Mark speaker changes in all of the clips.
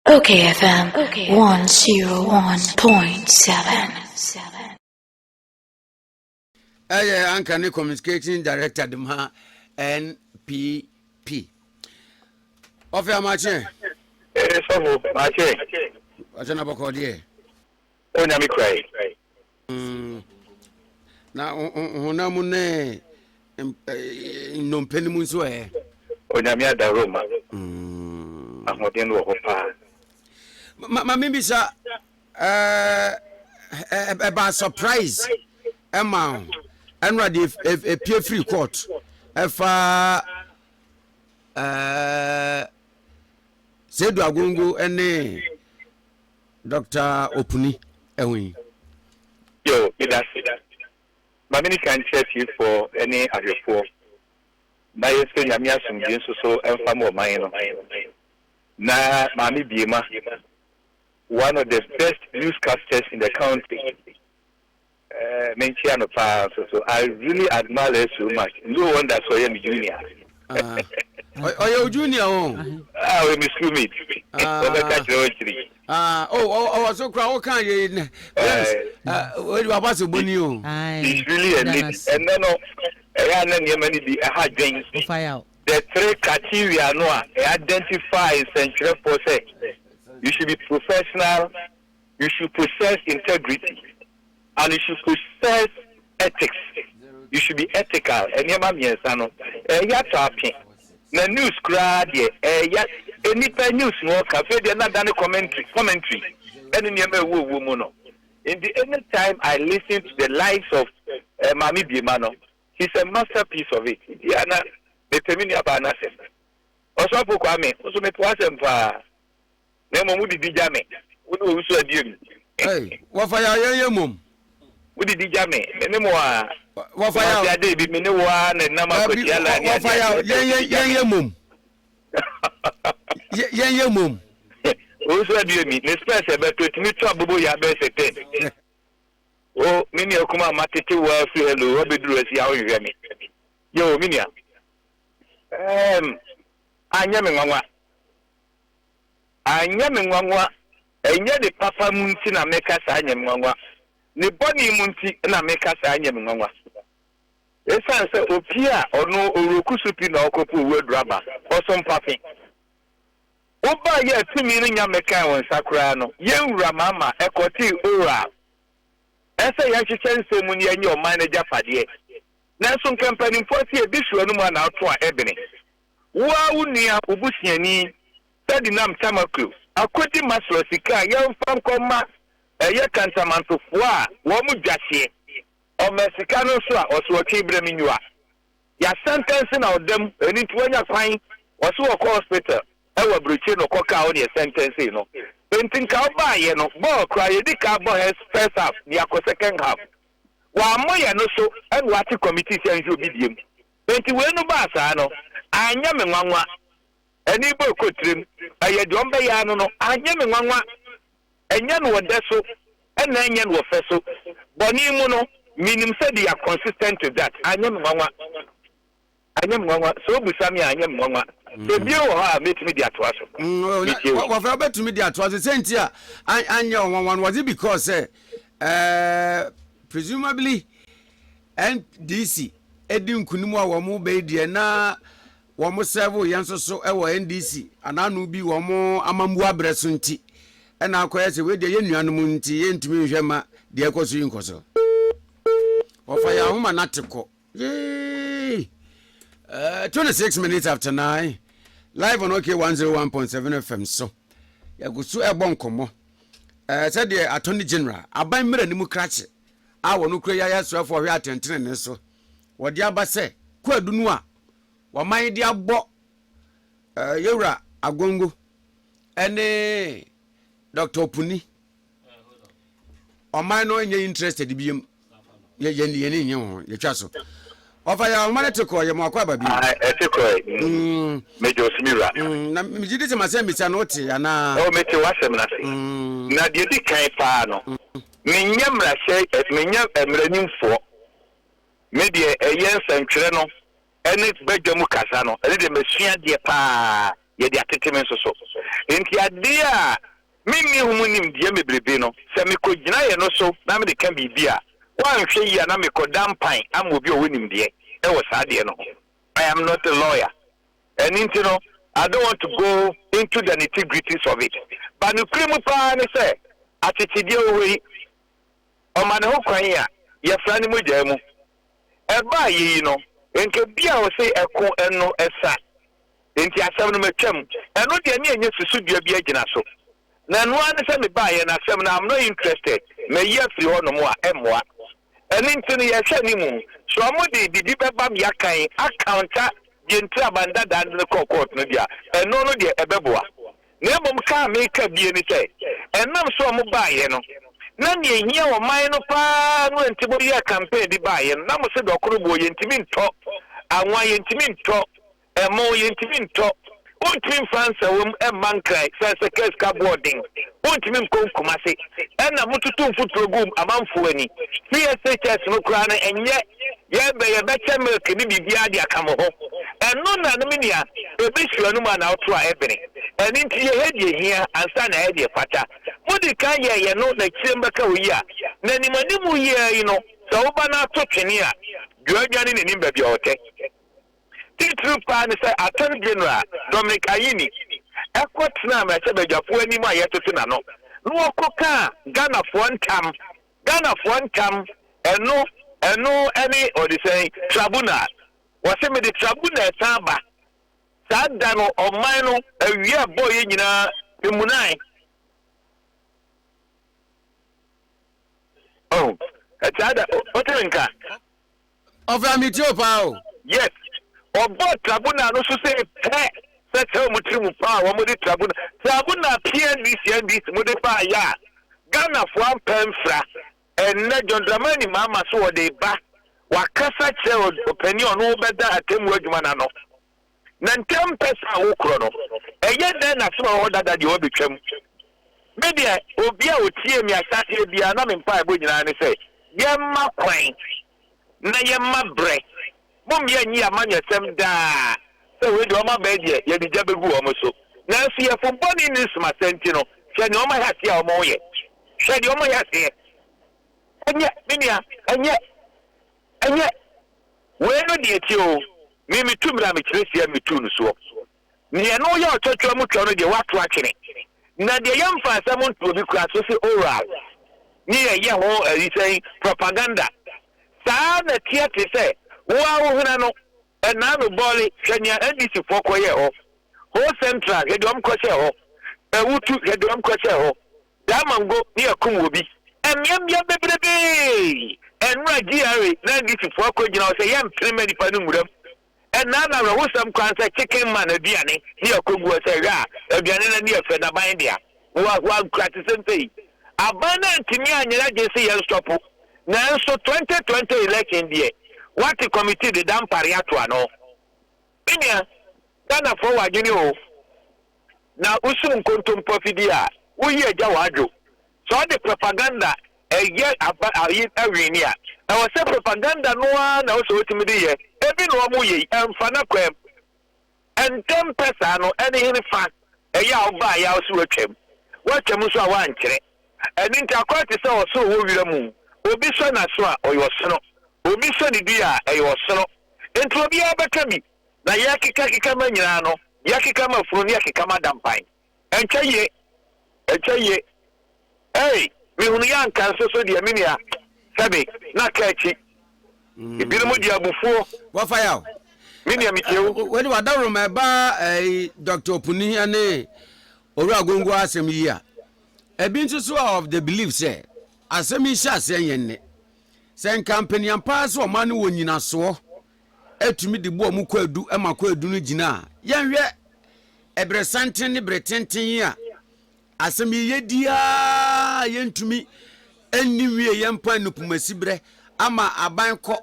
Speaker 1: Okay FM 101.7
Speaker 2: ɛyɛ anka ne communicating director de ma npp ɔfɛ amakyeɛ ɛsɔfo
Speaker 3: makyeɛ ɔkyɛ na
Speaker 2: bɔkɔɔ deɛ ɔnyame
Speaker 3: kurae
Speaker 2: Na honam mu ne nnompe no mu nso ɛ. Onyame
Speaker 3: adaworoma ahoɔden wɔ hɔ paa.
Speaker 2: Ma me bisa ɛba surprise ɛma ɛnora de ɛpie free court ɛfa sɛdu agongo ɛne Doctor Opuni, ɛho yi. Yo,
Speaker 3: medase. Ma me nnikan nkyerɛ atiefoɔ ne ahwɛfoɔ na yɛnsrɛ Nyame asomdwie nso so mfa ma ɔman no na Maame Biema, one of the best newscasters in the country, Menkyia no paa nso so. I really admire her so much. No wonder sɛ ɔyɛ me junior. Ah,
Speaker 2: ɔyɛ wo junior o. Ah, ɔyɛ me
Speaker 3: schoolmate. Ɔbɛka kyerɛ ɔkyiri.
Speaker 2: Ah, oh, ɔwɔ so kora woka yɛ nɛ. Yes, wadi waba sɛ boni o. It's really a
Speaker 3: lady. Ɛnɛ no, ɛyɛ anɛ nneɛma no bi ɛha dwen. The three criteria no a, ɛ identify nsɛnkyerɛfoɔ sɛ you should be professional. You should possess integrity and you should possess ethics. You should be ethical. Nneɛma mmiɛnsa no, ɛyɛ atɔ ape. Na news koraa deɛ, ɛyɛ nnipa news na ɔka. Afei deɛ na adane commentary, commentary ɛne nneɛma ɛwɔ owuo mu no. Nti any time I listen to the likes of eh, Maame Biema no, she's a masterpiece of it. Nti a na mepɛ me nuabaa no asɛm. Ɔsɔfo Kwame, nso mepɛ w'asɛm paa. na mmom wode di gya me, wo ne owusu adie mu. Ei, wɔfa
Speaker 2: yɛ ayɛyɛ mmom. Wode di gya
Speaker 3: me, me ne mo a. Wɔfa yɛ. Kumasi
Speaker 2: Adey bi, me ne wo ara na
Speaker 3: ɛnam akwatia laa ne adeɛ adeɛ ɛbɛn wode di gya
Speaker 2: me. Yɛnyɛ mmom. Yɛnyɛ mmom. Owusu
Speaker 3: adie mi, ne spɛs ɛbɛtɔ, ɛtumi tɔ abobo yɛ abɛyɛ sɛ ten. O, me nua kumaa matete wo ara firi hello abɛduru ha si a wonhwehwɛ me. Yɛ o, me nua. Ɛɛm, anyɛ me nwanwa. Anyɛ me nwanwa, ɛnyɛ ne papa mu nti na meka saa anyɛ me nwanwa, ne bɔne mu nti na meka saa anyɛ me nwanwa. Esiane sɛ opie a ɔno ɔreku so pi na ɔrekɔpo owu aduru aba, ɔso mpafe. Wobaeɛ a tumi no nya mekae wo nsa koraa no, yɛn wura Mama ɛkɔtee oral ɛsɛ yɛnhyehyɛ nsɛm mu na yɛnyɛ ɔman no agyapadeɛ, nanso nka mpanimfoɔ se ɛbi hwe w'anom a na woto a ɛbene. Wo ara wo nua, wo busuani, Ferdinand Tamaklo, akɔdi Maslow sika a yɛmfa nkɔ mma ɛyɛ kantamantofoɔ a wɔn dwa hyeɛ. Ɔmaa sika no nso a ɔse ɔtwe berɛ me nua. Yɛasɛntɛnse no a ɔda mu, ɛno nti wanya kwan, ɔse ɔkɔ hospital wɔ aburokyire na ɔkɔkaa wɔn yɛsɛntɛnsee no. Enti nka wobaeɛ no, bɔɔl koraa yɛdi kan bɔ first half de akɔ second half. Wammɔ yɛn no so ɛna wate committee sɛ ɛnhwɛ obi deɛ mu. Enti wei no baa saa no, anyɛ me nwanwa. Ɛne bɔ ɛkɔ tirim, ɛyɛ deɛ ɔmbɛyɛ ara no no, anyɛ me nwanwa. Ɛnyɛ no ɔdɛ so, ɛna ɛnyɛ no ɔfɛ so. Bɔne mu no, menim sɛ they are consistent with that. Anyɛ me nwanwa. Anyɛ me nwanwa. Sɛ wobisa me a, anyɛ me nwanwa. Ebien wɔ hɔ a, mɛtumi de atoa so. Metie wo. Wɔfrɛ
Speaker 2: wobɛtumi de atoa so. Sɛ nti a, anyɛ ɔnwanwa no, wɔdze because sɛ, eh, presumably, NDC di nkunim a wɔn bɛyi deɛ na wɔn sɛvo yɛn nso so wɔ NDC anaano bi wɔn amambu abrɛ so nti ɛna akɔyɛ sɛ wei deɛ yɛn nuanom nti yɛntumi nhwɛ ma deɛ ɛkɔ so yi nkɔ so wɔfa yɛn ahoma na te kɔ yee uh, 26 minutes after 9 live on okay 101.7 fm so yɛgu so ɛbɔ nkɔmmɔ uh, sɛdeɛ attorney general aban mmerɛ no mu krakye a wɔn kura yi ayɛ asraafo a wɔhwɛ atɛntenenee so. Wɔde aba sɛ kwaadu no a wɔaman de abɔ eh, Yewura Agongo ne Dr. Opuni. Ɔman no nyɛ interested biam. Yɛ yɛ yɛ ne nyɛ ho yɛtwa so. Ɔfa yɛ ahoma no te kɔɔ yɛ mo akɔ aba bi. Ah, ɛte kɔe.
Speaker 3: Mm, Mede ɔsumi wura. mm, na megye di sɛ
Speaker 2: masɛ mmisa no wote anaa? Ɛwɔ mete w'asɛm no ase.
Speaker 3: Mm, Na deɛ di kan paa no, Menyɛ mmarahyɛ ɛ, menyɛ mmaranimfoɔ. Me deɛ ɛyɛ nsɛntwerɛ no ne badwa mu kasa no, ɛno deɛ masua adeɛ pa ara, yɛde atete me nso so. Enti adeɛ a menni ho nimdeɛ bebrebe no, sɛ mekɔgyinaeɛ no so na mede ka biribi a, woanhwɛ yie a na mekɔda mpan ama obi a ɔwɔ nimdeɛ wɔ saa adeɛ no ho. I am not a lawyer. Ɛno nti no, I don't want to go into the nitty-gritties of it, but nokorɛ mu pa ara ne sɛ, akyekyedeɛ wɔ hɔ yi, ɔma ne ho kwan a yɛfra no mogyaa mu. Ɛba a yɛyi no, nka ebi a wɔse ɛko no sa, enti asɛm no matwam. Ɛno deɛ ne ɛnyɛ susudua bi agyina so, na ɛno ara ne sɛ mebaeɛ, na asɛm no I'm not interested, mayi afiri hɔnom a ɛmmoa. Ɛno nti no yɛrehwɛ anim sɛ ɔmo de biribi bɛba me akan a counter deɛ nti a man dadaa de no kɔɔ court no deɛ a, ɛno no deɛ ɛbɛboa. Na mmom ka a meka bie ne sɛ, ɛnam sɛ ɔmo baeɛ no na nea ɛhia ɔman no paa no ɛnti mo yɛɛ campaign de baeɛ no na mo se dɔkoro boɔ yɛntumi ntɔ, anwa yɛntumi ntɔ, Ɛmo, yɛntumi ntɔ. Wontumi mfa nsawam mma Nkran sane sɛ kaa sika boɔ den. Wontumi nkɔ Nkumase. Ɛna mototo mfuturo gu amanfoɔ ani. CSHS no koraa no ɛnyɛ yɛbɛ yɛbɛkyɛ milk ne biribiara de aka mo ho. Ɛno na no me nua ɛbɛsi w'anom a na woto a ɛbene. Ɛno nti yɛhɛ deɛ ɛhia ansa na ayɛ deɛ ɛfata. Modi kan yɛɛ yɛ no na akyire mbɛka oyi a. Na nim animu yi ara yi no sɛ woba no ato twene a dua dwane n'anim baabi a ɔtɛ. Titiriw paa ne sɛ Attorney General Dominic Ayine kɔ tenaa mmarahyɛbadwafoɔ anim a yɛtete n'ano na ɔkɔ kaa Ghanafoɔ ntam, Ghanafoɔ ntam, ɛno, ɛno ne ɔde sɛn? Trabunal. Ɔse mede trabunal san ba. Saa da no ɔman no awia a ɛbɔɔ yɛn nyinaa me munae. Oh, saa da, wote me nka?
Speaker 2: Ɔfaa me tiri o paa o. Yet,
Speaker 3: ɔbɔɔ trabunal no so sei pɛ sɛ kyerɛ wɔn tiri mu paa a wɔde trabunal trabunal PNDC NDC mode baa yɛ a Ghanafoɔ ampɛ amfira. Ɛnnɛ, John Dramani Mahama so ɔde reba, wakasa kyerɛ ɔpanin a ɔno rebɛda atemmuo adwuma no ano. na ntɛm pɛ saa a wokorɔ no, ɛyɛ dɛn na asɛm a ɛwɔ hɔ dada deɛ wɔabɛtwam? Me deɛ, obi a ɔtiee me ahyɛaseɛ biara, na me mpaebɔ nyinaa ne sɛ, Yɛmma kwan na yɛmma berɛ. Mommia nnyi amanyɔsɛm daa sɛ wei deɛ wɔabɛn deɛ, yɛde gya bɛgu wɔn so. Nanso yɛfo bɔne nni nsomasɛ nti no, hwɛ deɛ wɔayɛ aseɛ a wɔreyɛ. Hwɛ deɛ wɔayɛ aseɛ. Ɛnyɛ, me nua, ɛnyɛ. Ɛnyɛ, woi no deɛ tie o, me metu bra mekyerɛ sia no metuu no soɔ. Deɛ ɛno yɛ ɔtwatwa mu twɔ no deɛ woato akyene. Na deɛ yɛmfa asɛm nto obi koraa so se oral ne yɛyɛ ho ayi sɛn propaganda saa na teɛ te sɛ wo ara wo hwena no Ɛnaa no bɔɔle hwɛ nea NDC foɔ kɔ yɛɛ hɔ Ho central hwɛ deɛ ɔmo kɔ hyɛɛ hɔ Awutu hwɛ deɛ ɔmo kɔ hyɛɛ hɔ Damongo ne akum wɔ bi Mmeammea bebrebee Ɛnora GRA na NDC foɔ akɔ gyina hɔ sɛ yɛn mpene mma nipa no nwura mu Ɛnaa no awerɛhosɛm koraa ne sɛ chicken man aduane ne akɔ gu hɔ sɛ hwɛ a aduane no ani yɛ fɛ na ban dea Hoahoa nkurate sɛ nsɛyi aban no antumi anyera gyese yɛn stɔpo nanso 2020 election deɛ wate committee deda mpare ato ano me nua Ghana foɔ wɔ adwene oo na wosum nkontompo afidie a woyi agya wɔ adwo sɛ ɔde propaganda ɛyɛ aba ayi awini a ɛwɔ sɛ propaganda no ara na wosɛ wotumi de yɛ ebi na wɔn yɛ yi ɛmfa na kwam Ntɛm pɛ saa no, ɛne henefa? Ɛyɛ a wobaa yɛ a wose woatwam. Woatwam nso a woankyerɛ. Ɛno nti akɔyɛ te sɛ ɔsono wɔ wira mu. Obi sɔ n'aso a, ɔyɛ ɔsono. Obi sɔ ne dua a, ɛyɛ ɔsono. Enti obiara bɛka bi. Na yɛkekakeka ma nyinaa no, yɛkeka ma funu ne yɛkeka ma dampan. Ɛnkyɛ ye, ɛnkyɛ ye, ei, mehunuiɛ anka nso so deɛ me nua, sɛbe na ka akyi. Ebinom de abufuo. Wɔfa ya o.
Speaker 2: Me nua metie
Speaker 3: wo. Wei de w'adaworoma ɛba
Speaker 2: ɛyi Dr. Opuni ɛne Owura Agongo asɛm yi a, ebi nso so are of the belief sɛ asɛm yi hyɛ aseɛ nyɛ nnɛ. Sɛ nka mpaniampaa sɛ ɔman no wɔ nyinasoɔ tumi de boa mu kwaadu ma kwaadu no gyina a, yɛnhwɛ ɛberɛsanten ne berɛ tenten yi a, asɛm yi yɛdi ara yɛntumi nni wie yɛn mpa nupumasi berɛ ama aban kɔ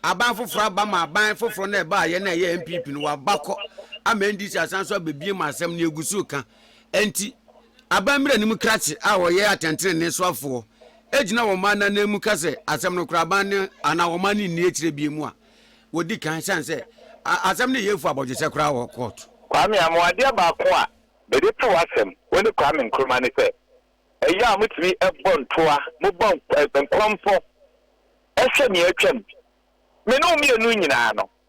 Speaker 2: aban foforɔ aba ma aban foforɔ no ɛba a yɛn a ɛyɛ npp no waba kɔ ama ndc asan so abɛbie ma asɛm no yɛgu so ka ɛnti Abammire anim krakye a wɔyɛ atɛntenenee soafoɔ gyina wɔn mma no ananmu ka sɛ asɛm no kora aban no anaa wɔn mma no nni akyire bio mu a, wɔdi kan ɛsiane sɛ asɛm no yɛ fua abɔdwesɛ koraa wɔ kɔɔto. Kwame
Speaker 3: Amoah, Adeɛ baako a mede to w'asɛm, wo ne Kwame Nkrumah ne sɛ, ɛyɛ a motumi bɔ ntoa, mobɔ nkɔmfɔ, hyɛ nea atwam. Me ne wo mmienu nyinaa no,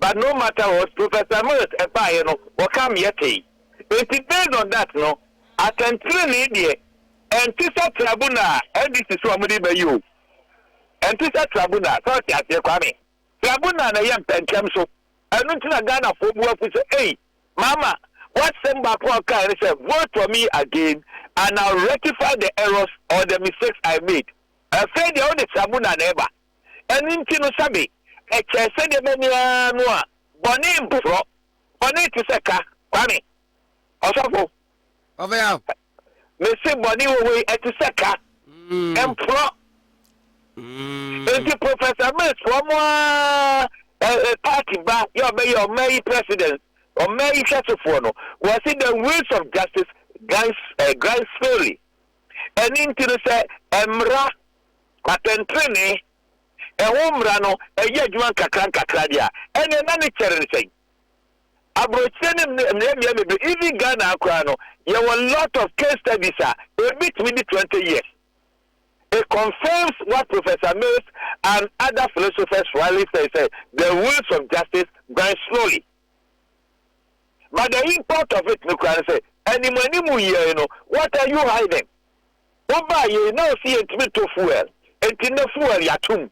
Speaker 3: but no matter what Professor Mills ɛbaeɛ no wɔka meɛ tee enti based on that no asɛntenenee deɛ ɛntesɛ tribunal a NDC se wɔn de reba yi o ɛntesɛ tribunal sɛ wote aseɛ Kwame tribunal na ɛyɛ mpɛntɛm so ɛno nti na Ghanafoɔ bu afu sɛ ei mama wasɛm baako a ɔkaeɛ no sɛ vote for me again and I'll rectify the errors or the mistakes I made ɛfei deɛ wode tribunal na ɛba Ɛno nti no sɛbe ɛkyɛɛ sɛ nneɛma ni ara no a, bɔne mporɔ, bɔne te sɛ ka, Kwame, ɔsɔfo, Ɔfɛyaw.
Speaker 2: mese
Speaker 3: bɔne wɔ hɔ yi ɛte sɛ ka, ɛmporɔ. Nti Professor Mills foɔ mo ara ɛ, party ba yɛ ɔbɛyɛ ɔman yi president, ɔman yi hwɛsofoɔ no, wɔse the wills of Justice Grimes, eh, Grimes Fairly. Ɛno nti no sɛ ɛmmra Atɛntrenee ho mmara no yɛ adwuma nkakrankakra deɛ a, ɛnneɛ na ne kyɛre ne sɛn? Aburokyire ne mmeammea bebree, even Ghana ha koraa no, yɛwɔ lot of case studies a ɛbɛtumi de twenty years. It confirms what Professor Mills and other philosophers rightly say sɛ the wheels of justice grind slowly. But the import of it no koraa ne sɛ, animuanimu yiae no, what are you hiding? Wobaa yei na ɔse yɛntumi ntɔ fuel, enti nnɛ fuel yɛato mu.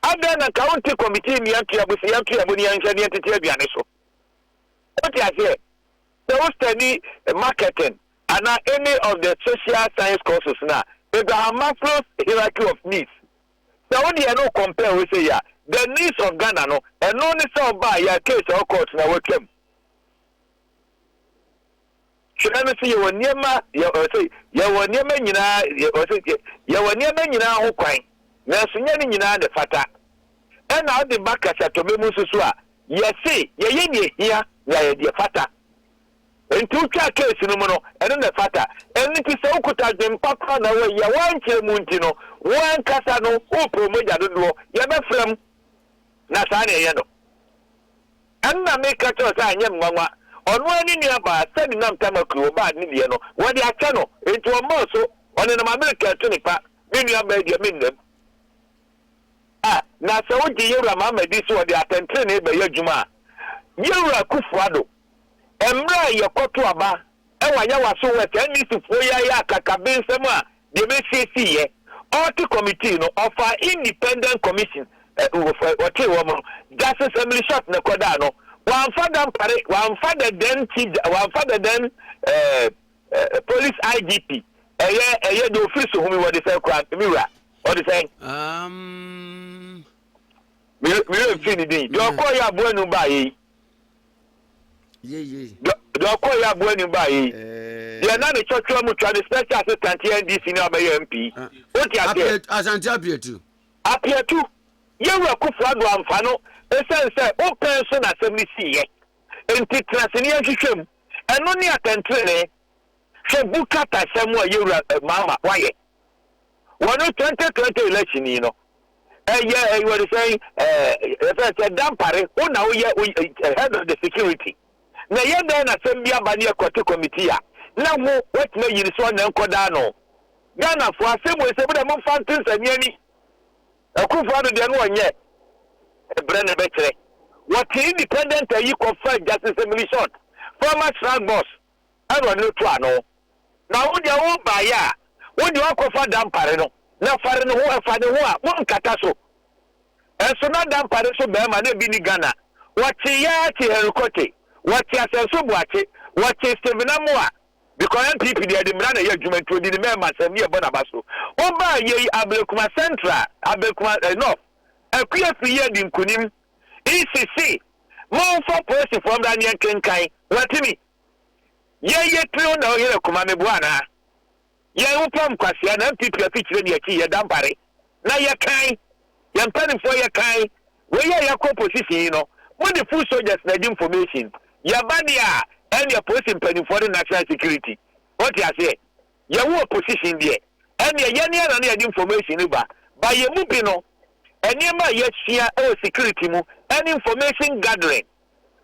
Speaker 3: Adɛn na nka wonte kɔmitii mmea ntoabo se yɛntoa mu na yɛnhwɛ na yɛntete aduane so? Wote aseɛ? Sɛ wo study marketing anaa any of the social science courses no a, Abraham Maslow's hierarchy of needs, sɛ wode ɛno recompare wei sei a, the needs of Ghana no, ɛno ne sɛ ɔbaa yɛ a case a ɔwɔ court no a watwam. Hwɛ, ɛno nso yɛwɔ nneɛma, yɛ, ɔse, yɛwɔ nneɛma nyinaa, yɛ, ɔse, yɛ, yɛwɔ nneɛma nyinaa ho kwan, nanso nyɛ ne nyinaa na ɛfata. Ɛna ɔde ba kasatɔmmɛ mu nso so a, yɛse yɛyɛ nea ehia na yɛayɛ deɛ ɛfata. Enti wotwaa case no mu no, ɛno na ɛfata. Ɛno nti sɛ wokuta adwempa koraa na woayi a, woankyerɛ mu nti no, wo ankasa no, wopɛ wo mogya dodoɔ, yɛbɛfra mu. Na saa na ɛyɛ no. Ɛnna meka kyerɛɛ no sɛ anyɛ me nwanwa. Ɔno ara ne nuabaa Sami nam Tamakui, ɔbaa ne deɛ no, wɔde akyɛ no. Enti ɔmaa so, ɔnenam Amerika atene pa, me nuabaa yi deɛ, mennam. A Na sɛ wogye Yewura Mahama di sɛ ɔde atɛntenenee bɛyɛ adwuma a, Yewura Akufo-Addo, mmerɛ a yɛkɔto aba wɔ Ayawaso West, NDCfoɔ yi ayɛ akakabensɛm a deɛ mesiesiiɛ, Ɔte committee no ɔfaa independent commission ɔtee wɔn no, Justice Emily Short na ɛkɔdaa no, wamfa da mpare, wamfa the then chief, wamfa the then eh, police IGP, ɛyɛ ɛyɛ deɛ ofiri so humi wɔde sɛn koraa, me wura, ɔde sɛn. Um, meyɛ mfiri ne din deɛ ɔkɔɔ yɛ aboa nu baayɛ yi Deɛ ɔkɔeɛ aboa anim baeɛ yi, deɛ na ne twɔtwɔ mu twa ne special assistant yɛ NDC ne abɛyɛ MP. Wote aseɛ? Asante Apiatu.
Speaker 2: Apiatu,
Speaker 3: Yɛwura Akufo-Addo amfa no esiane sɛ wo pɛn so na asɛm no siiɛ nti, tena ase na yɛnhwehwɛ mu. Ɛno ne atɛntrenee. Hwɛ Buka Taseɛ mu a Yɛwura Mahama wayɛ. Wɔ ne 2020 election yi no, ɛyɛ ɛyi wɔde sɛn ɛɛ yɛfɛ sɛ dampare, wo na woyɛ wo eh, head of the security. Na ɛyɛ dɛn na asɛm bi aba ne ɛkɔte committee a, na ho watumi ayi ne so ɔnna nkɔdaa no. Ghanafoɔ asɛm wei sɛ bɛdɛ momfa nte nsɛnneɛ ni. Akufo ado deɛ no ɔnyɛ ɛbrɛ na ɛbɛkyerɛ. Wɔte independent ayi kɔfa Justice Emily Short, former Shrag boss. Aaron no to ano, na wo deɛ wo baeɛ a, wo deɛ ɔnkɔfa dampare no, na fare ne ho, ɛfa ne ho a, monkata so. Nso na dampare so barima na bi ni Ghana, wɔte yaa te Henry Korte, wɔte Asanso Boakye, wɔte Stephen Amoa, because NPP deɛ ɛde mmara na ɛyɛ adwuma nti ɔdi ne mɛɛma asɛm ne ɛbɔ n'aba so. Wobaa yei Ablekuma Central, Ablekuma eh, North, Akua Afiri yi adi nkunim. Isi se, Momfa polisifoɔ mmra ne yɛnkenkan. Watumi? Yei ye tiri ho na wohera kuma meboa anaa? Yɛn ho pam kwasea na NPP afikyire ne akyi yɛda mpare na yɛkan. Yɛn mpanifoɔ yɛkan. Wei ye a yɛakɔ opposition yi no, mode foot soldiers na adi information. Yɛba deɛ a, ɛnneɛ polisi mpanifoɔ ne national security. Wote aseɛ? yɛwo opposition deɛ, ɛnneɛ yɛne ara na yɛde information no ba. But yɛn mu bi no, nneɛma a yɛasua wɔ security mu ne information gathering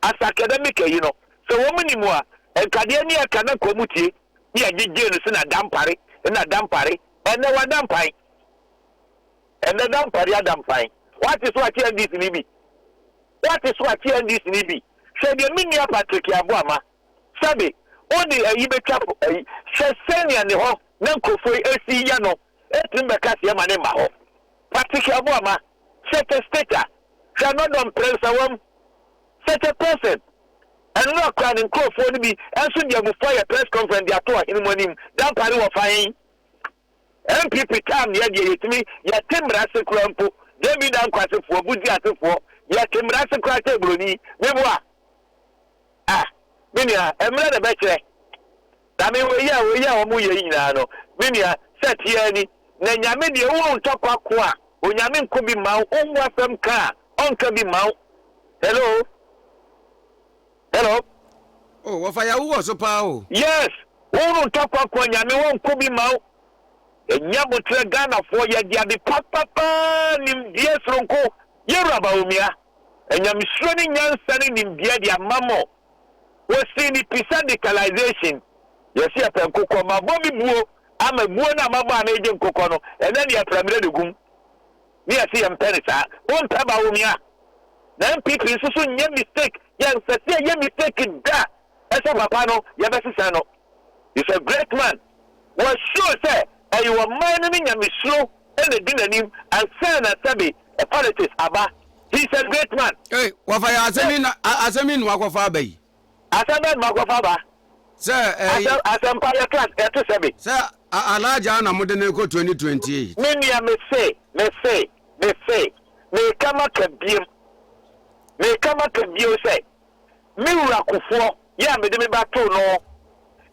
Speaker 3: as academic ayi no, sɛ wɔn nim a, nka deɛ ɛne ɛka na nka wɔn tie na yɛgye gye no sɛ na dampare, na dampare, ɛnnɛ wada mpan. Ɛnnɛ dampare ada mpan. Wate so ate NDC ni bi? Wate so ate NDC ni bi? Hwɛ deɛ me nua Patrick Aboama Sɛbe, wode ayi betwa po ayi. Hwɛ sɛnea ne hɔ na nkurɔfo yi asi yɛ no atumi bɛka sɛ yɛmma no mma hɔ. Patricia Aboama, Such a stater, hwɛ anɔdɔ mprɛnsa wom, such a person. Ɛnnora koraa ne nkurɔfoɔ no bi nso de abufuo ayɛ press conference de ato ɔhene mu anim, dampare wɔ fa he? NPP kaa mmea deɛ yɛtumi yɛte mmara ase koraa mpo David Anko asefoɔ Buzi asefoɔ yɛte mmara ase koraa kyɛn buroni meboa ah me nua mmerɛ na ɛbɛkyerɛ na me wei a wei a wɔn yɛ yi nyinaa no me nua sɛ teɛ ni na nyame deɛ wo ntɔkwa ko a onyame nko bi ma wo wo asɛm ka a ɔnka bi ma wo hello Hello.
Speaker 2: Oh wɔfa yahoo wɔ so paa o. Yes wo
Speaker 3: no ntɔ kwakwa nyame wɔnkɔ bi ma wo ɛnyɛ aboterɛ Ghanafoɔ yɛde ade papa paa nimdeɛ soronko yɛwura Bawumia anyamesuro ne nyansa ne nimdeɛ de ama mo wɔsii ne pi sɛ decalisation yɛse yɛpɛ nkokɔ mabɔ me buo ama buo no a mabɔ a na ɛgye nkokɔ no ɛnɛ ne yɛpra mmerɛ de gum Me yɛse yɛmpɛ no saa. Wompɛ Bawumia na NPP nso so nyɛ mistake yɛmpɛsɛ yɛyɛ mistake da ɛsɛ papa no yɛbɛsesɛ no is a great man wɔ sure sɛ ɛyɛ ɔman no ne nyamesuro na ɛdi nanim ansa na sɛbe politics aba he is a great man. Ei wafa yɛ asɛm
Speaker 2: yi na asɛm yi na wakɔfa aba yi. Asɛm bɛ dma kɔ
Speaker 3: fa ba. Sɛ ɛy.
Speaker 2: Asɛm asɛm pa
Speaker 3: yɛ class ɛto sɛ be. Sɛ a Alhaja
Speaker 2: na mo de no rekɔ 2028. Me nua me se
Speaker 3: me se me se meka maka biem meka maka bio sɛ me wura Kufuɔ yɛ a mede me ba too no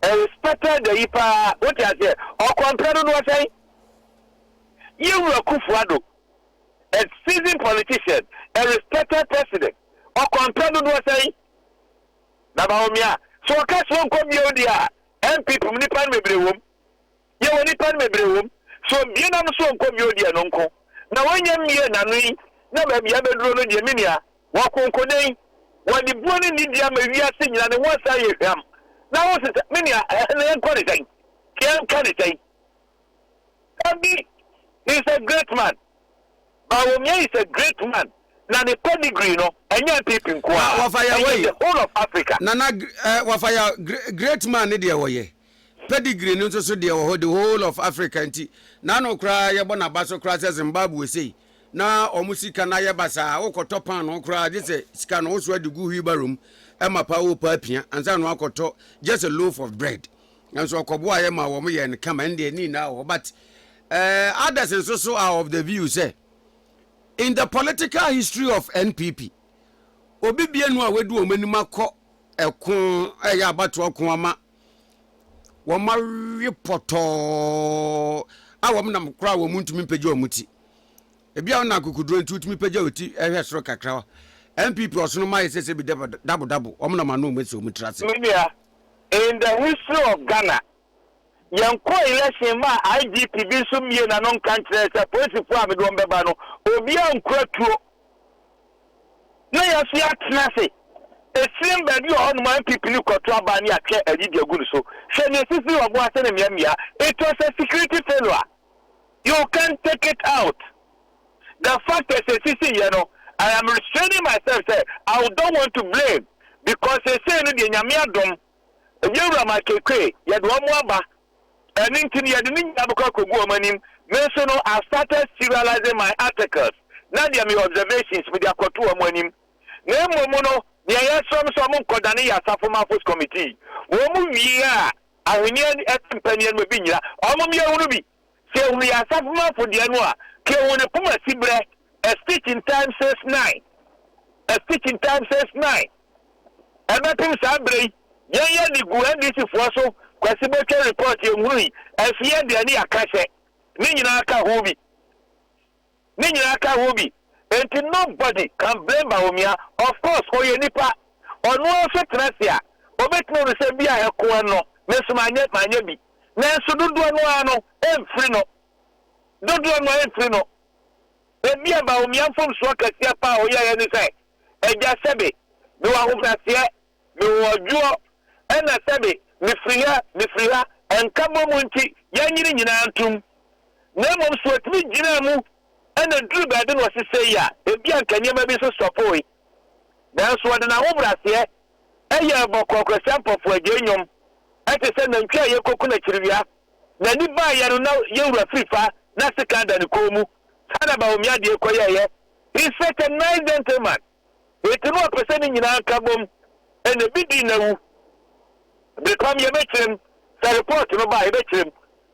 Speaker 3: a respected ayi paa wote aseɛ ɔkwanpra dodoɔ sɛn yɛ wura Kufuɔ Ado a seasoned politician a respected president ɔkwanpra dodoɔ sɛn Na Bawumia, sɛ ɔka sɛ ɔnkɔ bio deɛ a, NPP mu nnipa no bebree wɔ mu. Yɛwɔ nnipa no bebree wɔ mu. Sɛ obue n'ano sɛ ɔnkɔ bio deɛ no nko. Na wanya mmue n'ano yi na baabi a abɛduro no deɛ me nua, wakonkonen. Wɔde buo ne nidie ama wiase nyinaa, ne ho asan ayɛ hwam. Na wo se sɛ, me nua, ɛhɛ no yɛnkɔ ne sɛn? Yɛnka ne sɛn? Dabi, he is a great man. Bawumia is a great man na ne pedigree no ɛnyɛ NPP nko ara, ɛyɛ the whole
Speaker 2: of Africa. Nana eh, wafa ya, great man ne deɛ wɔyɛ, pedigree no nso so deɛ wɔ hɔ, the whole of Africa nti, n'ano koraa yɛbɔ n'aba so koraa sɛ Zimbabwe sei, na wɔn sika no ayɛ basaa, wokɔtɔ paanoo koraa gye sɛ sika no wosoa de gu wheelbarrow mu, ɛma paa wo paa pia, ansa na wakɔtɔ just a loaf of bread. nanso ɔkɔboa yɛ ma wɔn yɛn kama ɛnde ɛni na wɔ but uh, others nso so are of the view sɛ in the political history of npp obi bienu a wadu wɔn anim akɔ ɛko ɛyɛ abatoɔ ko ama wɔn awe pɔtɔɔ a wɔn nam koraa wɔn ntumi mpagya wɔn ti ebi a wɔnam kukuduro nti wotumi pagya wɔn ti ɛhwɛ soro kakra npp ɔsono mayɛ sɛ sɛ bi dabodabo wɔn nam ano wɔn asi wɔn tiri ase. menua
Speaker 3: In the history of Ghana, yɛnkɔɔ election maa IGP bi nso mmiee n'ano nka nkyerɛɛ sɛ polisifoɔ a mede wɔn bɛba no, obiara nkura tuo. Na yɛafi atena ase. Ekyirem baabi wɔ hɔnom a NPP no kɔto aba ne atwe ayi de agu no so. Hwɛ nea esisii wɔ Aboase ne mmeammea. It was a security failure. You can't take it out. the fact ɛ sesisei yɛ no I am restraining myself sɛ I don't want to blame because sesei no deɛ Nyame adom Yɛwura Mike Ekue yɛde wɔn aba ɛno nti no yɛde ne nyinaa bɛkɔ akɔgu wɔn anim me nso no I started serializing my articles na deɛ me observations mede akɔto wɔn anim na mmom no deɛ yɛsrɛ m sɛ wɔn nkɔdane yɛ Asafo Mafos Committee wɔn wie a ahweneɛ ɛte mpaniɛ no ma bi nyina wɔn mmea hunu bi Sɛ ehu yɛ asafomafo deɛ no a, ka ehu no poma siberɛ, a stitch in time saves nine, a stitch in time saves nine. Ɛbɛpem saa berɛ yi, yɛn yɛ de gu NDC foɔ so, Kwasi Botwe report yɛnhunui, nso yɛn deɛ ne yɛakahyɛ, ne nyinaa ka ho bi. ne nyinaa ka ho bi enti nobody can blame Bawumia of course ɔyɛ nipa ɔno ara nso tena ase a ɔbɛtumi ahunu sɛ bi a ɛko ɛno me nso manyɛ manyɛ bi nanso dodoɔ no ara no ɛmfiri no dodoɔ no ara ɛmfiri no ebi a Bawumia mfomsoɔ kɛseɛ paa a ɔyɛeɛ ne sɛ agya sɛbe mewɔ ahobraseɛ Mewɔ ɔdwoɔ, ɛna sɛbe mefiri ha, mefiri ha, nkabom nti yɛanyi ne nyinaa ntom. Na mmom sɛ ɔtumi gyinaa mu na ɛduruu baabi na ɔse sei a, ebia anka nneɛma bi nso stɔpoe. Nanso ɔde n'ahobraseɛ yɛɛ bɔkɔɔkɔsia mpɔfoagyae nnwom te sɛ nantwie a yɛrekɔku no akyiriwia. N'ani baeɛ no na yɛn wura firi fa na sekan da ne kɔn mu. Saa na Bawumia deɛ kɔyɛeɛ. He's such a nice gentleman. Enti na ɔpɛ sɛ ne nyinaa ka bom, ɛna ebi dii n'awu. Bere pa mu yɛbɛkyerɛ mu, sɛ report no ba a yɛbɛkyerɛ mu,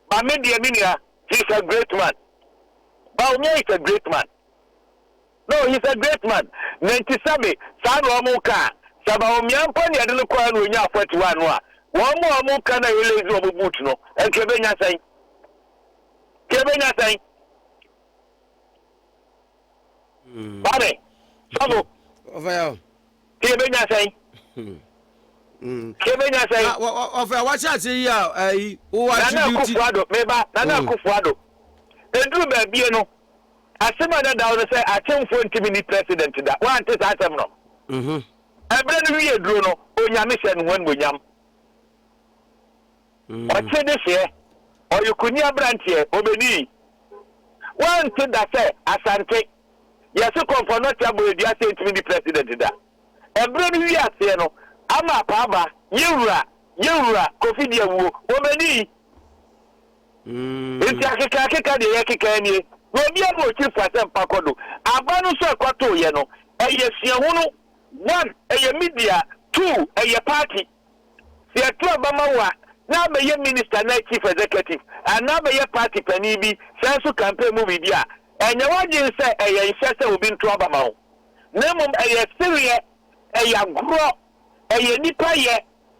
Speaker 3: but me deɛ me nua, he is a great man. Bawumia is a great man. No, he is a great man. Na nti sɛbe saa na wɔka a, sɛ Bawumia mpo na yɛde no kɔe na onyaa 41 no a, wɔn a wɔka na yɛlazy wɔn boot no, nka yɛbɛnya sɛn? Nka yɛbɛnya sɛn? wate sɔfo ɔfɛ yɛ o ti yɛ bɛ nya sɛn ti yɛ bɛ nya sɛn na ɔfɛ wɔhyɛ ase
Speaker 2: yi a ɛyi wɔ attribute nana akufo
Speaker 3: ado meba nana mm. akufo ado eduru baabie no asem a dadaw no sɛ atemfo ntumi ni president da wante saa asɛm no ɛbrɛ mhm. no wie duro no onyame hyɛ no ho animonyam Ɔtse deseɛ, ɔye kunyi aberanteɛ, ɔbɛnii. Woante da sɛ Asante, yɛse kɔmfɔ North Aboe dua sɛ entumi ndi president da. Ɛberɛ no wie aseɛ no, ama apaaba, ye wura, ye wura Kofi de awuo, ɔbɛnii. Nti akeka akeka deɛ yɛkekaa nie, na obia ma ɔkyiri fo asɛmpa kɔ do. Aba no nso ɛkɔtooyɛ no, ɛyɛ suahunu, one, ɛyɛ media, two, ɛyɛ party. Sɛ yɛto aba ma wo a, na abɛyɛ minista anaa chief executive anaa abɛyɛ party panin bi san nso campaign mu biribi a, ɛnyɛ w'adwene sɛ ɛyɛ nhyɛ sɛ obi nto aba ma wo. Na mmom ɛyɛ sereɛ, ɛyɛ agorɔ, ɛyɛ nnipa yɛ,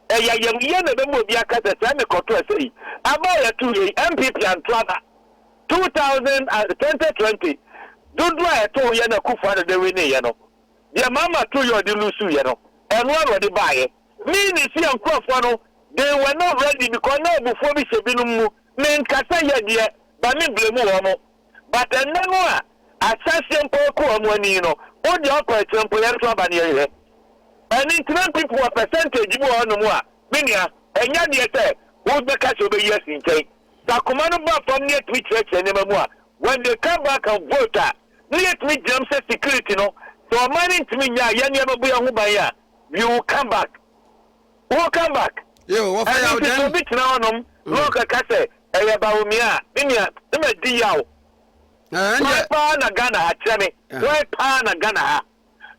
Speaker 3: ɛyɛ ayamyɛ na ɛbɛma obi aka sɛ sɛ mekɔto ɛsɛ yi aba a yɛto yɛ yi, NPP anto aba 2000 ah, 2020 dodoɔ a ɛtoo yɛ na Akufo-Addo de wineeɛ no. Deɛ Maama Toyɔɔ de lusuiɛ no, ɛno ara na ɔde baeɛ. Me ne Sia nkurɔfoɔ no, they were not ready because na abufuo bi hyɛ binom mu, menkasa yɛ deɛ, but me blame wɔn. But ɛnnɛ no a ahyɛ aseɛ mpo rekɔ wɔn ani no, wo deɛ ɔkɔ akyire mpo yɛn nso aba no yɛhwɛ. Ɛno nti na mpp wɔ percentage bi wɔ hɔnom a, me nua, ɛnyɛ adeɛ sɛ wobɛka sɛ wobɛyi asi nkyɛn. Sɛ akoma no ba fam na yɛtumi kyerɛkyerɛ nneɛma mu a, when they come back and vote a, na yɛtumi gyinam sɛ security no sɛ ɔman no ntumi nyaa yɛn nneɛma bua ho ban a we will come back we will come back ɛno nti sɛ obi tena hɔ nom na ɔkaka sɛ ɛyɛ Bawumia a ne nua ne ma di yaw why paa na Ghana ha kyerɛ me why paa na Ghana ha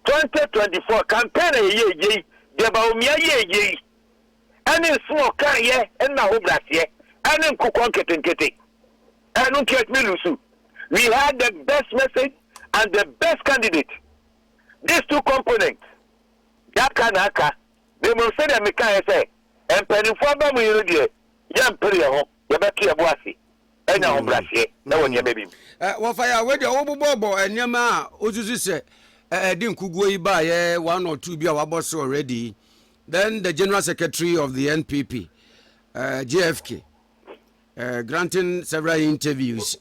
Speaker 3: 2024 campaign na yɛyɛ yei deɛ Bawumia yɛ yei ne nsɛm a ɔkaeɛ ne n'ahobrɛaseɛ ne nkokɔ nketenkete. Ɛno nti atumi lusu. We had the best message and the best candidate. These two components deɛ aka na aka. Na mmom sɛdeɛ mekaeɛ sɛ mpaninfoɔ aba mu yi no deɛ yɛmpere yɛn ho, yɛbɛto yɛn bo ase anya ahobrɛaseɛ wɔ nneɛma bi mu. Wɔfa yɛ a wei
Speaker 2: deɛ wobobɔɔbɔ nneɛma a wosusu sɛ ɛde nkuguo yi baeɛ one or two bi a wɔabɔ so already yi. Then the General Secretary of the NPP, uh, eh, JFK, uh, eh, granting several interviews,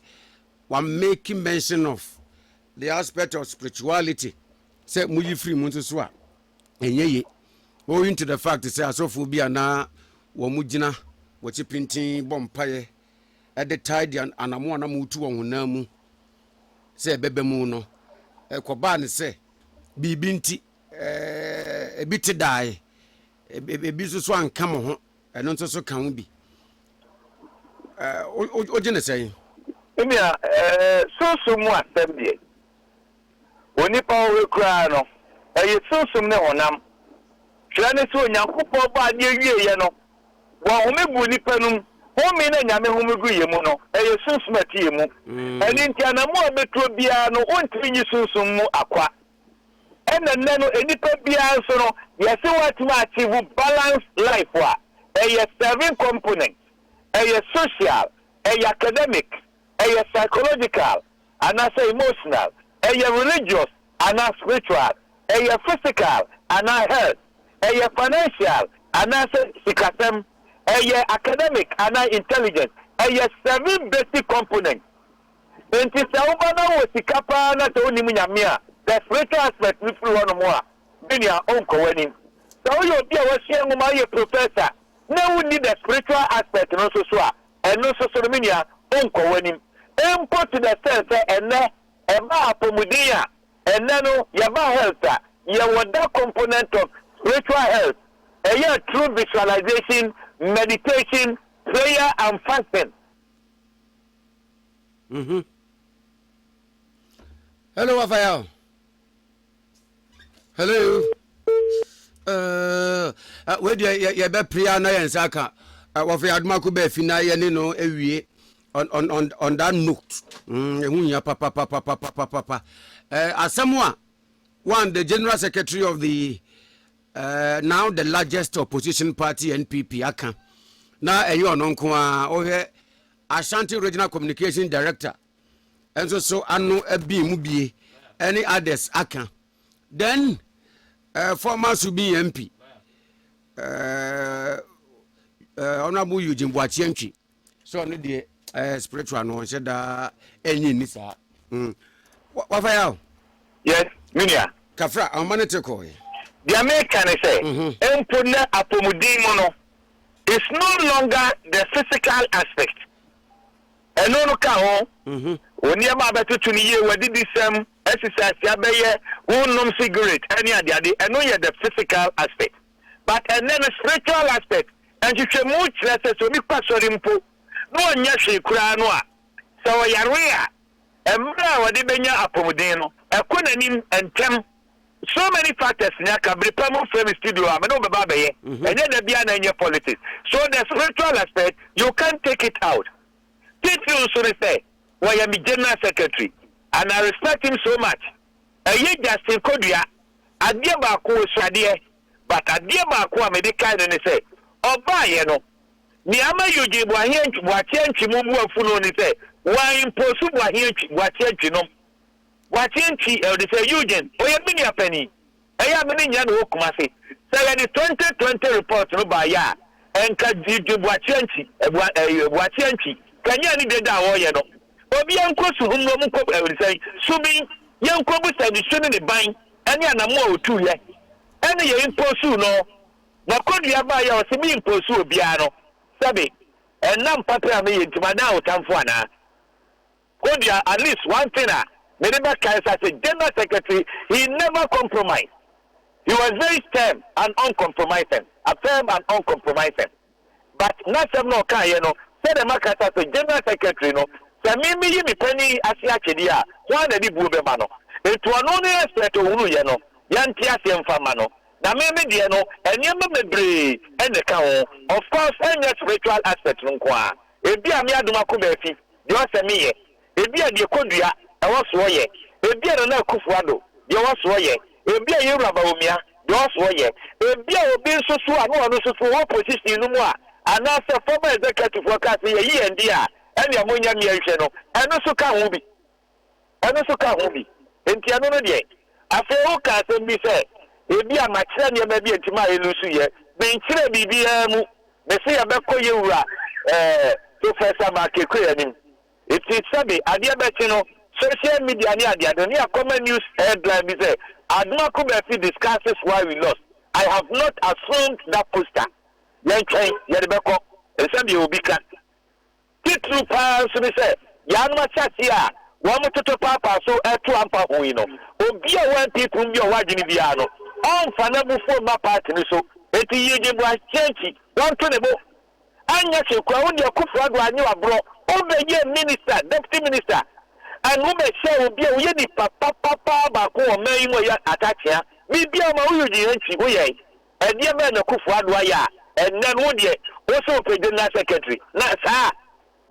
Speaker 2: were making mention of the aspect of spirituality. Say, muyi free mu nso so a, ɛnyɛ ye. Owing to the fact sɛ asɔfoɔ bi a na wɔn gyina wɔkyi pintin bɔ mpaeɛ ɛde tae de anamo a na motu wɔn honam mu sɛ ɛbɛbɛ mu no ɛkɔbaa ne sɛ biribi nti Ebi te dae, ebi nso so anka mo ho, ɛno nso so ka ho bi. Wogye ne sɛn? Nea
Speaker 3: sunsum mu asɛm deɛ, onipa ɔwɔ koraa no, ɛyɛ sunsum ne honam. Kyerɛ ne sɛ, Onyankopɔn bɔ adeɛ wieeɛ no, wahome guu nnipa no mu. Home no a Nyame home guu yɛn mu no, ɛyɛ sunsum a ɛte yɛn mu. Ɛno nti, anammɔn a wobɛtuo biara no, wontumi nyi sunsum mu akwa. Ɛna nnɛ no nnipa biara nso no yɛse woatumi a achieve balance life a, ɛyɛ seven components, ɛyɛ social, ɛyɛ academic, ɛyɛ psychological anaasɛ emotional, ɛyɛ religious anaa spiritual, ɛyɛ physical anaa health, ɛyɛ financial anaasɛ sikasɛm, ɛyɛ academic anaa intelligence, ɛyɛ seven basic components. Enti sɛ woba na wowɔ sika paa na sɛ wonnim Nyame a, the spiritual aspect no firi hɔnom a, bi nea ɔnkɔ w'anim. Sɛ woyɛ obi a wasua nwoma ayɛ professor na wonni the spiritual aspect no nso so a, ɛno nso so no, me nua, ɔnkɔ w'anim. Mpo to the extent sɛ ɛnnɛ ɛbaa apɔmuden a, ɛnnɛ no yɛba health a, yɛwɔ that component of spiritual health. Ɛyɛ through visualization, meditation, prayer and fasting. Mhm.
Speaker 2: Hello, Raphael. Hello. Uh, uh, wei deɛ yɛ- yɛbɛpere a na yɛn nsa aka uh, wɔfrɛ adomako baafi na yɛne no awie on, on, on, on that note mm, ɛho hia papapapapapapa uh, asɛm a one the general secretary of the uh, now the largest opposition party npp aka na ɛyɛ ɔno nko a wohwɛ Ashanti Regional Communication Director nso so ano abin mu bie ɛne others aka. Then uh, former Subin MP uh, eh, uh, eh, Honorable Eugene Boakye so ɔno deɛ uh, spiritual no ɔnhyɛ daa ɛnyi ni saa. Mm. Wafa ya o?
Speaker 3: Yes, minia. Kafra, ahoma ne te
Speaker 2: kɔɔ yɛ. Deɛ meka
Speaker 3: ne sɛ, mhm. mpo na apɔmuden mu no, it's no longer the physical aspect ɛno no ka ho mhm. wo nneɛma abɛtoto no yie w'adidisɛm exercise abɛyɛ wonnom cigarette ɛne adeade ɛno yɛ the physical aspect but ɛnɛ no spiritual aspect nhwehwɛmu kyerɛ sɛ sɛ obi kɔ asɔre mpo na ɔnyɛ hwee koraa no a sɛ ɔyare a mmerɛ a ɔde bɛnya apɔmuden no ɛkɔ n'anim ntɛm So many factors ni aka bere pa mu frɛ me studio a me ne wo bɛba abɛyɛ ɛnyɛ da biara na ɛnyɛ politics so the spiritual aspect you can't take it out titiriw nso ne sɛ wɔyɛ me general secretary and I respect him so much ɛyɛ Justin Kodua adeɛ baako ɔsua adeɛ but adeɛ baako a mede kae no ne sɛ ɔbaeɛ no nea ama Eugene Boahye Antwi Boakye Antwi mu bu afu no ne sɛ wɔanimposu Boahye Antwi Boakye Antwi nom Boakye nti, Elder Sir Eugene, ɔyɛ me nua panin, ɛyɛ a me ne nyɛ no wɔ Kumasi. Sɛ yɛde twenty twenty report no baeɛ a, nka Eugene Boakye Antwi, Boa, ɛɛ, Boakye Antwi, kanyan ne dede a ɔreyɛ no. Obiara nkɔ su hum na wɔnkɔ, ɛɛ, sɛn, Subin, yɛnkɔbu sɛ ne su ne ne ban ne anammɔn a ɔtuiɛ, ɛne yɛn imposuu no. Na Kodua baeɛ a ɔse me imposu obiara no, sɛbe, ɛnam papa a meyɛ nti madan awotamfoɔ anaa? Kodua at least one thing a mede bɛkae sa sɛ General Secretary he never compromise he was very stern and uncompromising a firm and uncompromising but n'asɛm na ɔkaeɛ no sɛdeɛ maka sa sɛ General Secretary no sɛ me meyi me panin yi ase atwedeɛ a hwan na de buo bɛma no nti ɔno ne expert ɔhunuuiɛ no yɛnte aseɛ mfa mma no na me me deɛ no nneɛma bebree na ɛka ho of course ɛnyɛ spiritual aspect no nko ara. Ebia me adom ako baafi, deɛ ɔwɔ sɛ me yɛ, ebia deɛ Kodua, ɛwɔ soɔ yɛ, ebia Nana Akuffo Addo, deɛ ɔwɔ soɔ yɛ, ebia yɛn Wura Bawumia, deɛ ɔwɔ soɔ yɛ, ebia obi nso so a ne ɔno nso so ɔwɔ position no mu a, anaa sɛ former executive foɔ kaa sɛ yɛyi yɛn deɛ a, ɛnea monyɛ mmea nhwɛ no, ɛno nso ka ho bi. Ɛno nso ka ho bi. Enti ɛno no deɛ. Afei wokaa asɛm bi sɛ, Ebia makyerɛ nneɛma bi a enti mayɛ lusu. Yɛ. Menkyerɛɛ biribiara mu. Mese yɛbɛkɔ yɛn wura eh, Professor Markekue anim. Enti sɛbe adeɛ bɛkye no, social media ne adeade no, ne yɛakɔma news headline bi sɛ, Admako Bafi discusses why we lost. I have not assumed that poster. Yɛntwɛn, yɛde bɛkɔ. Nsɛm deɛ obi ka. Titiriw paa nso ne sɛ, yaanom asase a wɔtotɔ paapaa so reto ampa ho yi no, obi a ɔwɔ mpeeprum bi a ɔwɔ adwene biara no, ɔremfa n'abufuo mma paati no so. Enti yiegye boaseɛ nti, wɔnto ne bo. Anyɛ hwee koraa, wo deɛ Akuffo Addo anyɛ wo aborɔ, wo bɛyɛɛ minister, deputy minister, and wo bɛhyɛɛ obi a ɔyɛ nipa papa paa baako wɔ ɔman yi mu a ɔyɛ Atah Kyea. Biribiara ɔma wo Eugene Antwi, wo yɛe. Ɛdeɛ bɛn na Kuffo Addo ayɛ a ɛnnɛ no wo deɛ wo se wo pɛ General Secretary na saa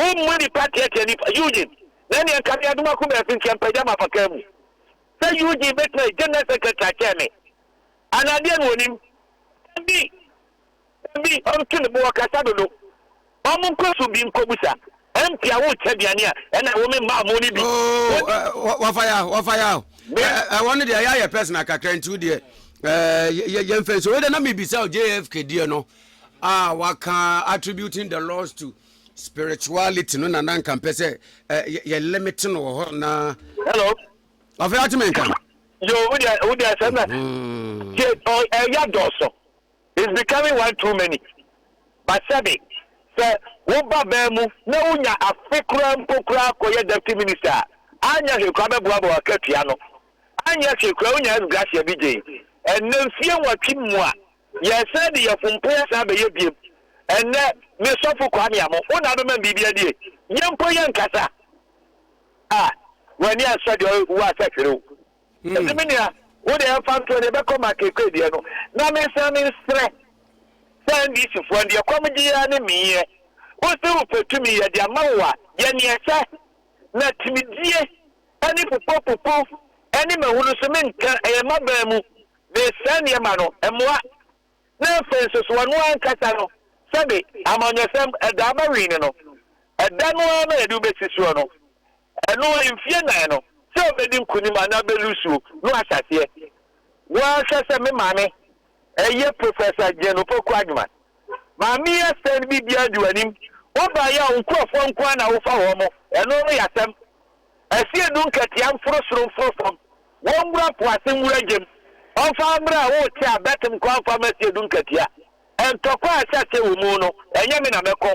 Speaker 3: a wo mmu nipa teatia nipa? Eugene na ɛneɛ nka me adom akoma afi nkyɛ mpagya m'afakaa mu sɛ Eugene bɛtumi ayɛ General Secretary akyɛn me anaa deɛn na ɔnim? Dabi! Dabi! Ɔnto ne bo ɔkasa dodo. Ɔmo nkɔ so bi nkɔ busa mpia wo kyɛ aduane a ɛna wo me mmaa mo no bi. Oh, uh, wafa
Speaker 2: ya, wafa ya. Ɛwɔ no deɛ ɛyɛ ayɛ personal kakra nti wo deɛ yɛmfɛ nso. Wei de na mebisa JFK deɛ no a waka attributing the laws to spirituality no na na nka mpɛ sɛ yɛ limit no wɔ hɔ na. Hello.
Speaker 3: Afei ate
Speaker 2: me nka. Yo, wo deɛ
Speaker 3: wo deɛ sɛ na ɛyɛ dɔɔso. It's becoming one too many, Basabe, sɛ wo ba baa mu na wo nya afe koraa mpo koraa kɔ yɛ Deputy Minister a, anyɛ hwee koraa bɛboa boa w'akatua no, anyɛ hwee koraa wo nya S Gracia bi gyei, ɛnnɛ mfie nwɔtwe mu a yɛsan de yɛ fompo yɛsan bɛyɛ biem, ɛnnɛ me sɔfo Kwame Amoh wo na abɛma me biribi adie, yɛn mpo yɛnkasa a, w'ani ansɔ deɛ ɔwɔ asa hwere wo. Enti me nua, wo deɛ ɛmfa ntoɔ, deɛ ɛbɛkɔ ma Kekwe deɛ no, na mensane nsrɛ sɛ NDC foɔ no deɛ kɔm gye yɛn ne meyeɛ. Wo se wo pɛ tumi, yɛde ama wo a, yɛ neɛ ɛsɛ. Na timidie ne popo popo ne mahu no nso menka, ɛyɛ m'aban mu na ɛsɛe nneɛma no, ɛmmoa. Na afei nso so ɔno ankasa no, sɛbe amanyɔsɛm, ɛda aba wii no no, ɛda no ara na yɛde wo bɛsi soɔ no. Ɛno mfie nnan no sɛ ɔbɛdi nkunim anaa bɛlusuo no ahyɛ aseɛ. Wɔhwɛ sɛ me maame, ɛyɛ Professor Jane Opoku Agyeman. Maame asɛm no biribiara di w'anim, wobaeɛ a wo nkurɔfoɔ nko ara na wofa wɔn mo, ɛno no yɛ asɛm. Asie du nkatia mforo soro mforo fam, wɔnwura po ase nwura gyam. Ɔmfa mmerɛ a wote a bɛtem nkɔ amfa mma asie du nkatia. Ntɔkwa a ɛhyɛ aseɛ wɔ mu no ɛnyɛ me na mɛkɔ.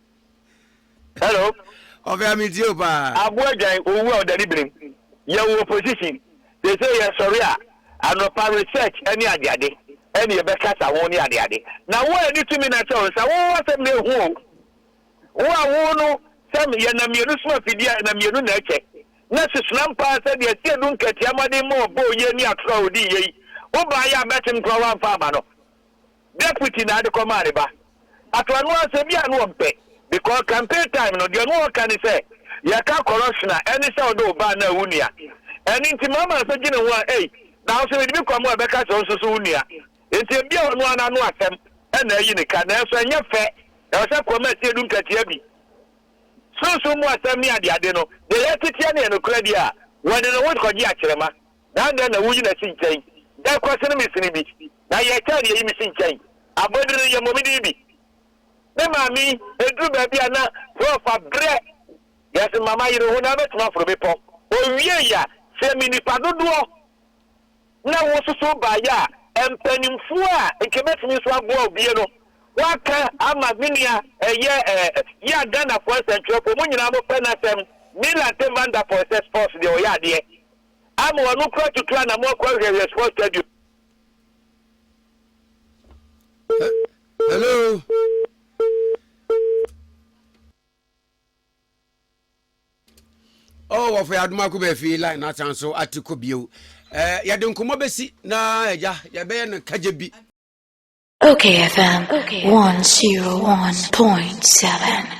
Speaker 3: Hello. Ɔfɛa
Speaker 2: me tie wo paa. Aboa dwan owu
Speaker 3: a ɔdane birim. Yɛwɔ opposition. Seesei yɛsɔre a, anɔpa research ne adeade ne yɛbɛkasa ho ne adeade. Na wo a yɛde tumi no ahyɛ wo nsa, wo asɛm na ehu o. Wo a wo no sɛ yɛnam mmienu som afidie a, yɛnam mmienu na ɛkyɛ. Na susuam paa sɛ deɛ Asiedu Nketiah mmɔden ma ɔbɔɔ yei ne atorɔ a ɔdii yei, wobaeɛ a bɛtem koraa woamfa amma no. deputy na ade kɔ maa ne ba ato ano ara sɛ bia no ɔmpɛ because campaign time no deɛ no ɔka ne sɛ yɛka corruption a ɛne sɛ ɔde wo ba anaa wo nua ɛne nti mama nso gye ne ho a ei na ahosuo mede bi kɔ mo a ɛbɛka sɛ ɔnso so wo nua nti ebia ɔno ara n'ano asɛm ɛna ayi ne ka nanso ɛnyɛ fɛ ɛwɔ sɛ kɔma atie du nkatia bi sunsun mu asɛm ne adeade no deɛ yɛteteɛ ne ɛnokorɛ deɛ a wɔde ne ho kɔgye akyerɛma na dɛn na wuyi no si nkyɛn? Dɛn kura sene me sini bi, na yɛ kyɛn deɛ eyi me si nkyɛn? Abodin no yɛ mmɔmedin bi. Me maame, eduru baabi a na Prof. abrɛ. Yɛse ma ma yere ho na abɛtumi aforo bepɔ. Owiei a, sɛ me nnipa dodoɔ na wosusu baeɛ a, mpanimfoɔ a nka ebɛtumi nso aboa wo bie no, woaka ama me nua ɛyɛ eh, yɛ a Ghanafoɔ nsɛntwerɛfoɔ, mo nyinaa mo pɛ n'asɛm, Milan T. Van Der Poel sɛ sports deɛ ɔyɛ adeɛ. ama wɔn ano kura atutu anamɔ akɔ ahwiahwia sports stadium.
Speaker 2: hello. oh wɔfɔ yɛ adum akɔ bɛɛ fi line n'atan so ati kɔ bio ɛɛ yɛde nkɔmɔ bɛsi na ɛgya yɛbɛyɛ no kagye bi. Okay
Speaker 1: FM 101.7